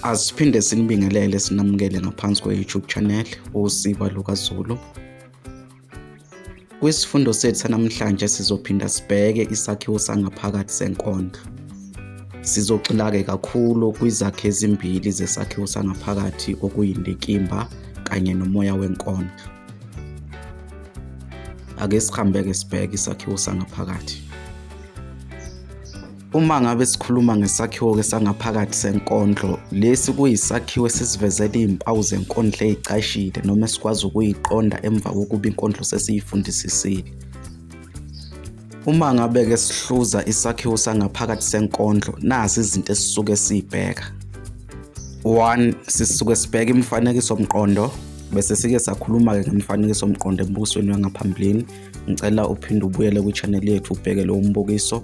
Asiphinde sinibingelele sinamukele ngaphansi kwe-YouTube channel uSiba LukaZulu. Kwisifundo sethu sanamhlanje sizophinda sibheke isakhiwo sangaphakathi senkondlo. Sizogxilake kakhulu kwizakhi ezimbili zesakhiwo sangaphakathi okuyindikimba kanye nomoya wenkondlo. Ake sihambeke sibheke isakhiwo sangaphakathi. Uma ngabe sikhuluma ngesakhiwo-ke sangaphakathi senkondlo, lesi kuyisakhiwo esisivezela iy'mpawu zenkondlo ey'cashile noma esikwazi ukuyiqonda emva kokuba inkondlo sesiyifundisisile. Uma ngabe-ke sihluza isakhiwo sangaphakathi senkondlo, nazi izinto esisuke siy'bheka. One, sisuke sibheka imifanekiso mqondo bese sike sakhuluma-ke ngemifanekiso mqondo embukisweni wangaphambilini. Ngicela uphinde ubuyele kwi-channel yethu ubheke lowo mbukiso.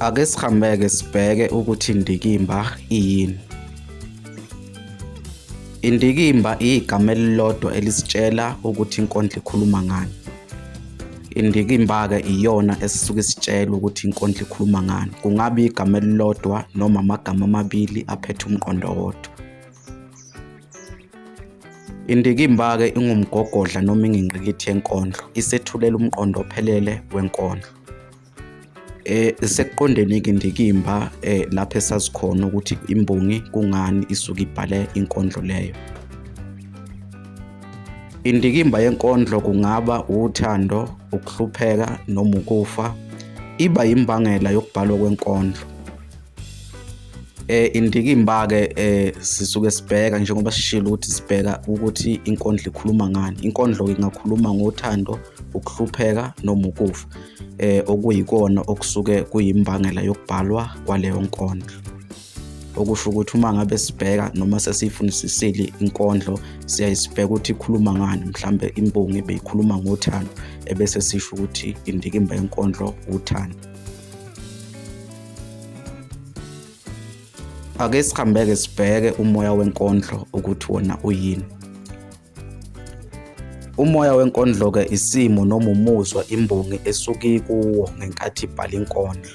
Ake sihambeke sibheke ukuthi indikimba iyini. Indikimba igama elilodwa elisitshela ukuthi inkondlo ikhuluma ngani. Indikimba-ke iyona esisuke isitshela ukuthi inkondlo ikhuluma ngani. Kungaba igama elilodwa noma amagama amabili aphethe umqondo wodwa. Indikimba-ke ingumgogodla noma ingingqikithi yenkondlo, isethulela umqondo ophelele wenkondlo. Eh sekuqondeni-ke indikimba eh lapho esazi khona ukuthi imbongi kungani isuke ibhale inkondlo leyo. Indikimba yenkondlo kungaba uthando, ukuhlupheka noma ukufa, iba yimbangela yokubhalwa kwenkondlo. eh indikimba ke eh sisuke sibheka njengoba sishilo ukuthi sibheka ukuthi inkondlo ikhuluma ngani inkondlo ingakhuluma ngothando ukuhlupheka noma ukufa eh okuyikona okusuke kuyimbangela yokubhalwa kwaleyo nkondlo okusho ukuthi uma ngabe sibheka noma sesiyifunisisile inkondlo siyayisibheka ukuthi ikhuluma ngani mhlambe imbongi ebeyikhuluma ngothando ebese sisho ukuthi indikimba yenkondlo uthando ake sihambeke sibheke umoya wenkondlo ukuthi wona uyini umoya wenkondlo-ke isimo noma umuzwa imbongi esuke ikuwo ngenkathi ibhala inkondlo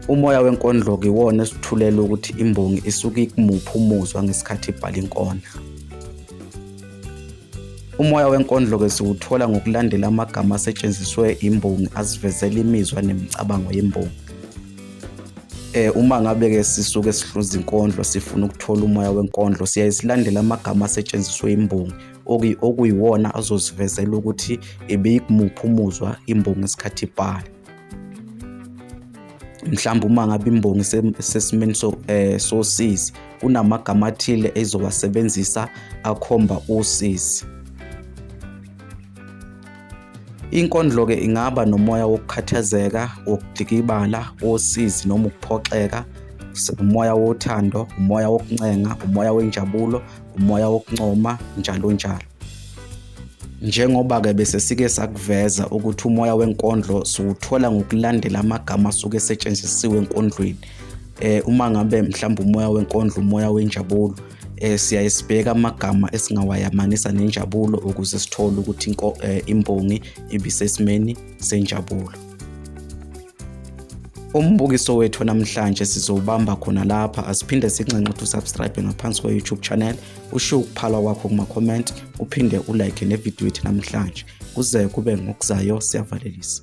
umoya wenkondlo-ke iwona esithulela ukuthi imbongi isuke ikumuphi umuzwa ngesikhathi ibhala inkondlo Umoya wenkondlo-ke siwuthola ngokulandela amagama asetshenziswe imbongi asivezela imizwa nemicabango yembongi. Eh uma ngabe ke sisuke sihluza inkondlo sifuna ukuthola umoya wenkondlo siyaye silandele amagama asetshenziswe imbongi okuyiwona azosivezela ukuthi ibiyimuphi umuzwa imbongi isikhathi ibhala. mhlawumbe uma ngabe imbongi sesimeni so eh sosizi kunamagama athile ezowasebenzisa akhomba usizi Inkondlo ke ingaba nomoya wokukhathazeka, wokudikibala, wosizi noma ukuphoxeka, umoya wothando, umoya wokuncenga, umoya wenjabulo, umoya wokuncoma njalo njalo. Njengoba-ke bese sike sakuveza ukuthi umoya wenkondlo siwuthola ngokulandela amagama asuke esetshenzisiwe enkondlweni eh uma ngabe mhlawumbe umoya wenkondlo umoya wenjabulo eh siyaye sibheka amagama esingawayamanisa nenjabulo ukuze sithole ukuthi eh, imbongi ibisesimeni senjabulo Umbukiso wethu namhlanje sizowubamba khona lapha asiphinde sinxenxe ukuthi usubscribe ngaphansi kwe-YouTube channel ushiye ukuphala kwakho kuma-comment uphinde ulike nevidiyo yethu namhlanje kuze kube ngokuzayo siyavalelisa